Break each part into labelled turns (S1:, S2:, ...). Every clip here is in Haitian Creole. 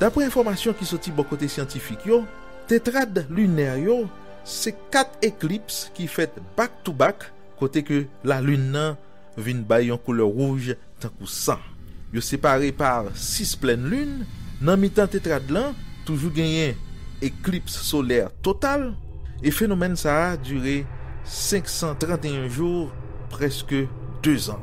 S1: Dapre enfòmasyon ki soti bò kote syantifik yo, tetrad linè yo se 4 eklips ki fèt back to back kote ke Lalin nan vin bay yon koulè wouj tankou san. Yo separe par 6 plèn lin. Nan mitan tetrad lan, toujou genyen eklips solè total, e fenomèn sa a dire 531 jou, prèske 2 zan.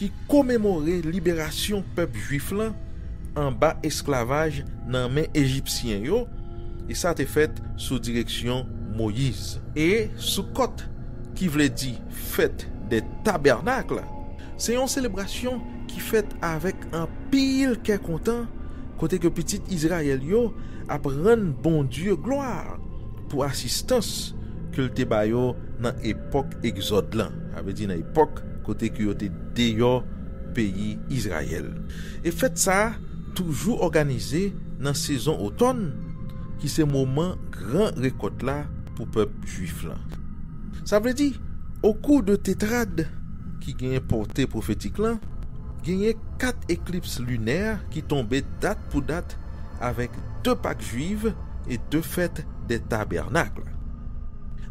S1: ki komemore liberasyon pèp jwif lan anba esklavaj nan men ejipsyen yo, e sa te fèt sou direksyon Moyiz. E Soukòt, ki vle di fèt dè tabènakl, se yon selebrasyon ki fèt avèk anpil kè kontan, kote ke pitit Izrayèl yo ap rann Bondye glwa pou asistans ke l te ba yo nan. epòk Egzòd lan, sa vle di nan epòk kote ke yo te deyò peyi Izrayèl. E fèt sa a toujou òganize nan sezon otòn, ki se moman gran rekòt la pou pèp jwif lan. Sa vle di, okou de Tetrad ki genyen pòte pwofetik lan, genyen kat eklips linè ki tonbe dat pou dat avèk de Pak Jwiv, et de fait des tabernacles.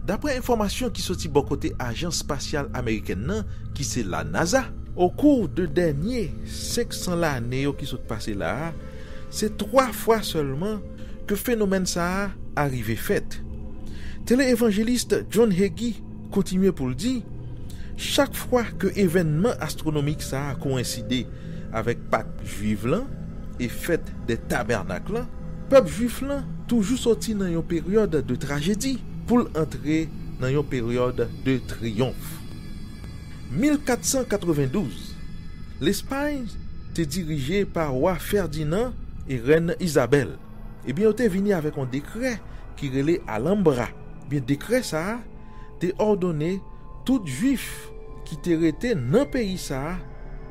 S1: Daprè enfòmasyon ki soti bò kote ajans spasyal amerikèn nan ki se la NASA, okou de dènye 500 lane yo ki sot pase la a se 3 fwa sèlman ke fenomèn sa a arive fèt. Tele-evangeliste John Hagee, Kontinye pou l di, Chak fwa ke evènman astwonomik sa a kowenside avèk Pak Jwiv lan e Fèt dè Tabènak lan, pèp jwif lan toujou soti nan yon peryòd de trajedi pou l antre nan yon peryòd de triyonf. 1492, Lespay te dirije pa Wa Fèdinan e Rèn Izabèl, ebyen yo te vini avèk yon dekrè ki rele Alambra, Ebyen dekrè sa a te òdone tout Juif ki te rete nan peyi sa a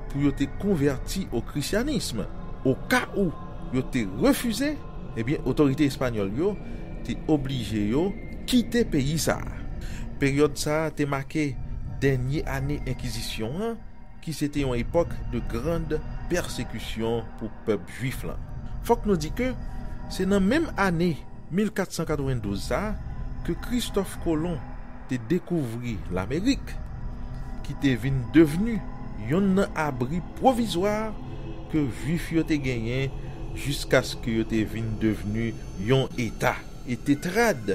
S1: pou yo te konvèti o Krisyanism. O ka ou yo te refize, ebyen otorite espanyòl yo te oblije yo kite peyi sa a. Peryòd sa a te make dènye ane Enkizisyon an ki se te yon epòk de grand pèsekisyon pou pèp jwif lan. Fòk nou di ke se nan menm ane 1492 sa a ke Kristòf Kolon te dekouvri Lamerik, ki te vin devni yonn nan abri pwovizwa ke jwif yo te genyen jiskaske yo te vin devni yon eta. E Tetrad.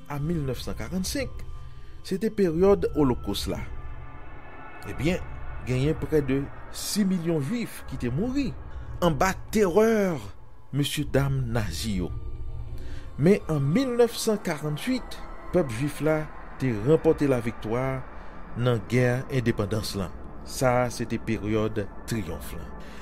S1: a 1945, se te peryòd Olokos la. Ebyen, genyen prè de 6 milyon Juif ki te mouri anba terè mesyedam Nazi yo. Men an 1948, pèp Juif la te ranpòte laviktwa nan gè endepandans lan. Sa a se te peryòd triyonf lan.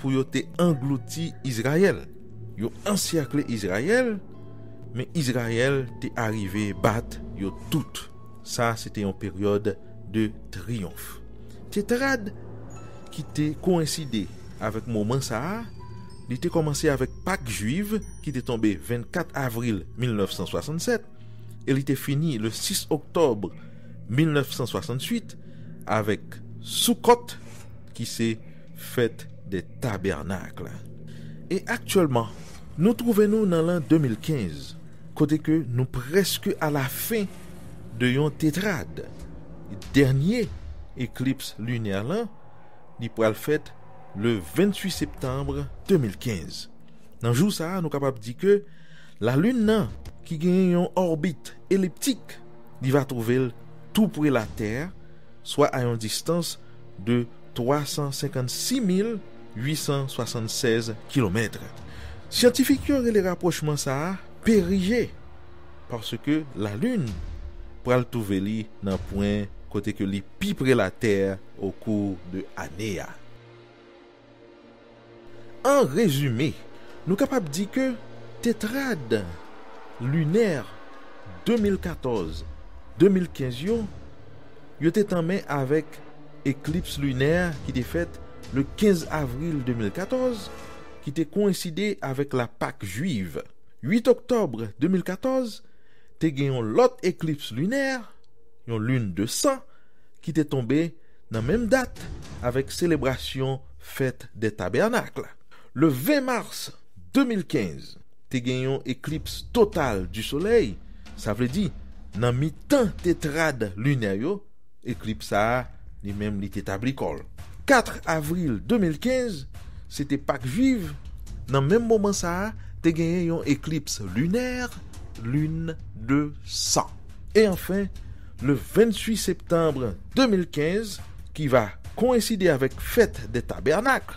S1: pou yo te anglouti Izrayèl. Yo ansèkle Izrayèl, men Izrayèl te arive bat yo tout. Sa a se te yon peryòd de triyonf. Tetrad ki te koenside avèk moman sa a, li te kòmanse avèk Pak Juiv ki te tonbe 24 avril 1967 e li te fini le 6 oktòb 1968 avèk Soukòt ki se Fèt dè Tabènak la. E aktyèlman, nou twouve nou nan lan 2015, kote ke nou prèske alafen de yon tetrad. Dènye eklips linè lan, li pral fèt le 28 septanb 2015. Nan jou sa a, nou kapab di ke Lalin nan, ki genyen yon òbit eliptik, li va twouve l tou pre Latè, swa a yon distans, de 356,876 kilomèt. Syantifik yo rele rapwochman sa a perije paske Lalin pral twouve li nan pwen kote ke li pi pre Latè okou de ane a. An rezime, nou kapab di ke tetrad linè 2014-2015 yo, yo te tanmen avèk eklips linè ki te fèt le 15 avril 2014, ki te koenside avèk la Pak Jwiv. 8 oktòb 2014, te gen yon lòt eklips linè, yon lune de sang, ki te tonbe. Nan menm dat avèk selebrasyon fèt dè tabènak la, le 20 mars 2015, te gen yon eklips total di solèy, sa vle di nan mitan tetrad linè yo, eklips sa a li menm li te tabli kò l. 4 avril 2015, se te pak jwiv, nan menm moman sa a te genyen yon eklips linè, lune de sang. E anfen, le 28 septanbre 2015, ki va koenside avèk fèt dè tabènak,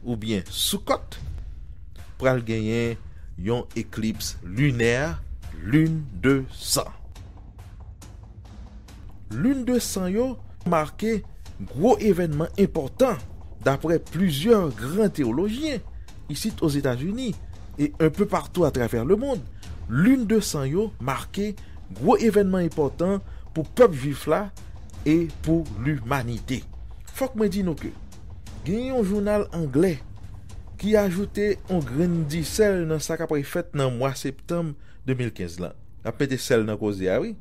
S1: oubyen Soukòt, pral genyen yon eklips linè, lune de san. Lune de san yo make gwo evènman enpòtan daprè plizyè gran teyolojyen isit Ozetazini, e un peu partout à travers le monde, Lune 200 yo make gwo evènman enpòtan pou pèp Jwif la e pou limanite. Fòk mwen di nou ke genyen yon jounal anglè ki ajoute yon grenn disèl nan sa k apre fèt nan mwa septanm 2015 lan. Nap mete sèl nan koze a wi.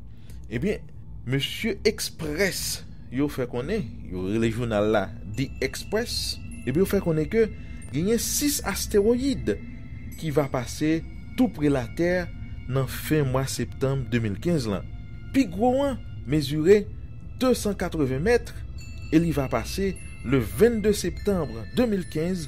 S1: Ebyen mesye Express yo fè konnen, yo rele jounal la The Express, ebyen yo fè konnen ke genyen 6 asteroyid ki va pase tou pre latè nan fen mwa septanm 2015 lan. Pi gwo an mezire 280 mèt e li va pase le 22 septanm 2015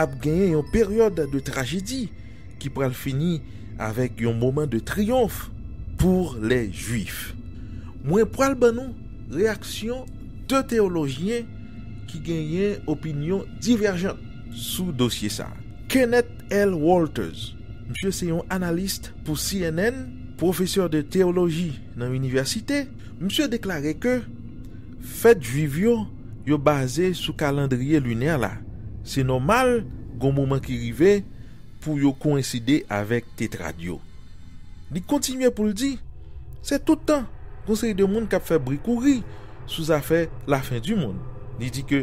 S1: ap genyen yon peryòd de trajedi ki pral fini avèk yon moman de triyonf pou lè Juif. Mwen pral ban nou reyaksyon 2 teyolojyen ki genyen opinyon divèjan sou dosye sa. Kenneth L. Walters, misye se yon analis pou cnn, pwofesè de teyoloji nan inivèsite, misye deklare ke, Fèt Juif yo, yo baze sou kalandriye linè la, se nòmal gon moman ki rive pou yo koenside avèk Tetrad yo. Li kontinye pou l di, Se tout tan gon seri de moun k ap fè bri kouri sou zafè lafen-di-monn. Li di ke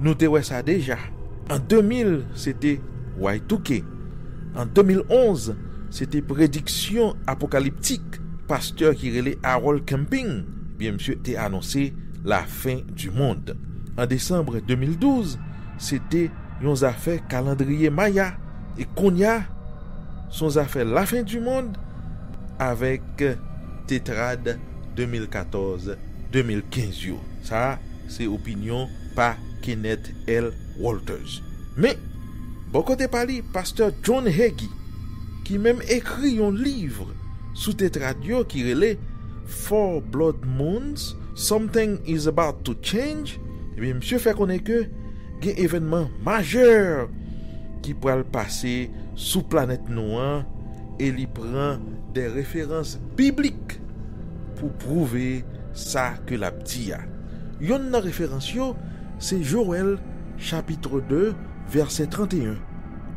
S1: nou te wè sa deja, an 2000 se te Y2K, an 2011 se te prediksyon apokaliptik pastè ki rele Harold Camping, Ebyen misye te anonse la fin du monde an decembre 2012 se te yon zafè kalandriye maya e kounya son zafè la fin du monde avek tetrad 2014 2015 yo sa se opinyon pa Kenneth L Walters men bò kote pa li pastè John Hagee ki menm ekri yon livre sou tetrad yo ki rele Four Blood Moons, Something Is About To Change, ebyen misye fè konnen ke gen evènman majè ki pral pase sou planèt nou an e li pran de referans biblik pou pwouve sa ke l ap di a. Yonn nan referans yo se Jowèl chapitre 2 vèsè 31.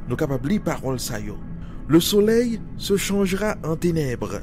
S1: Nou kapab li pawòl sa yo, Le soleil se changera en ténèbres.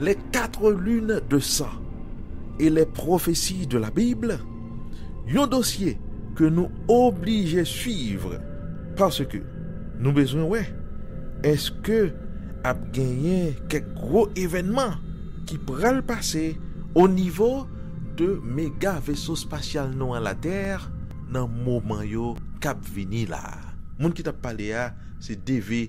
S1: Les Quatre Lunes de Sang et les Prophéties de la Bible, yon dosye ke nou oblije swiv paske nou bezwen wè eske ap genyen kèk gwo evènman ki pral pase o nivo de mega veso spasyal nou an Latè nan moman yo k ap vini la a. Moun ki t ap pale a se DV.